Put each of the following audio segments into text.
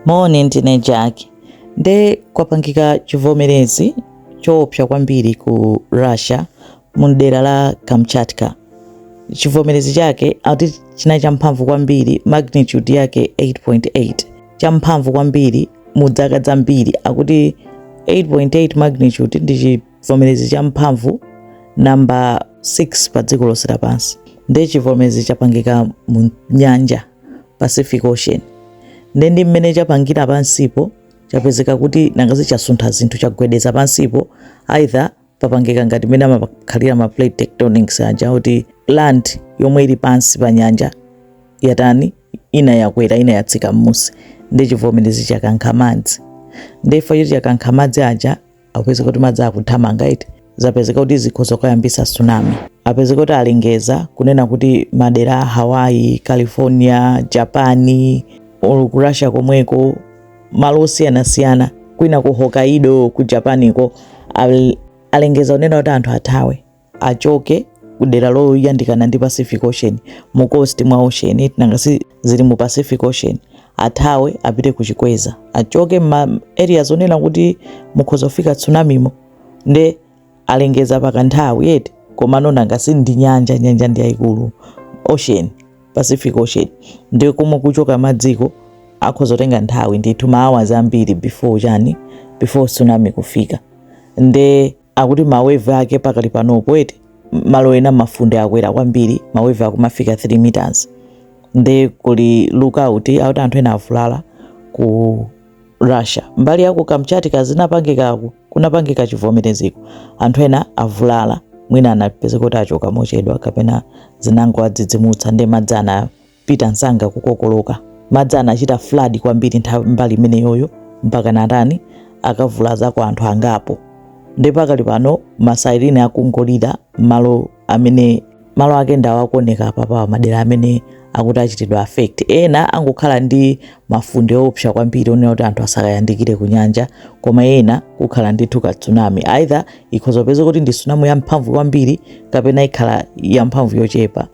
Moni, ndine Jack. Nde kwapangika chivomerezi choopsa kwambiri ku Russia mu dera la Kamchatka. Chivomerezi chake akuti chinali champhamvu kwambiri magnitude yake 8.8 champhamvu kwambiri mu dzaka dzambiri akuti 8.8 magnitude ndi chivomerezi cha mphamvu namba 6 pa dziko lonse lapansi nde chivomerezi chapangika mu nyanja pacific ocean nde nde mmene chapangira pansipo chapezeka kuti nanga si chasuntha zinthu chagwedeza pansipo either papangika ngati mmene amakhalira ma plate tectonics aja kuti land yomwe ili pansi pa nyanja yatani ina yakwera ina yatsika mmusi nde chivomerezi chakankha madzi ndiye chifukwa choti chakankha madzi aja apezeka kuti madzi akuthamanga eti zapezeka kuti zikhoza kuyambisa tsunami apezeka kuti alengeza kunena kuti madera a hawaii california japani or ku russia komweko malo osiyanasiyana kwina ku hokkaido ku japaniko al- alengeza kunena kuti anthu athawe achoke ku dera loyandikana ndi pacific ocean mu coast mwa ocean eti nanga si zili mu pacific ocean athawe apite ku chikweza achoke ma area zonena kuti mukhoza kufika tsunamimo nde alengeza pakanthawi eti komano nanga si ndi nyanja nyanja ndi yayikulu ocean pacific ocean nde komwe kukuchoka madziko akhoza kutenga nthawi ndithu ma hours ambiri before chani before tsunami kufika nde akuti ma wave ake pakali panopo eti malo ena mafunde akwera kwambiri ma wave akumafika 3 meters nde kuli lookout akuti anthu ena avulala ku russia mbali yaku kamchatka zinapangikako kunapangika chivomereziko anthu ena avulala mwina anapezeka kuti achoka mochedwa kapena zinangowadzidzimutsa nde madzi ana pita msanga kukokoloka. Madzi anachita flood kwambiri nthawi mbali imeneyoyo mpaka natani akavulazako anthu angapo. Nde pakali pano ma siren akungolira malo amene malo ake ndi awo akuoneka apapawa madera amene akuti achitidwa affect. Ena angokhala ndi mafunde oopsa kwambiri onena kuti anthu asakayandikire ku nyanja, koma ena kukhala ndithu ka tsunami either ikhoza kupeza kuti ndi tsunami yamphamvu kwambiri kapena ikhala yamphamvu yochepa.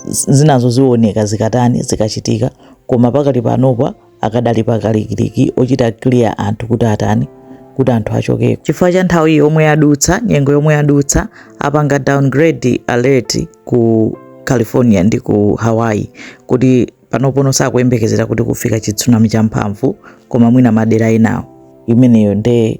Z- zinazo zioneka zikatani zikachitika koma pakali panopa akadali pakalikiliki ochita clear anthu kuti atani kuti anthu achokeko chifukwa cha nthawi yomwe yadutsa nyengo yomwe yadutsa apanga downgrade alert ku california ndi ku hawaii kuti panopono sakuyembekezera kuti kufika chitsunami champhamvu koma mwina madera enawo imeneyo nde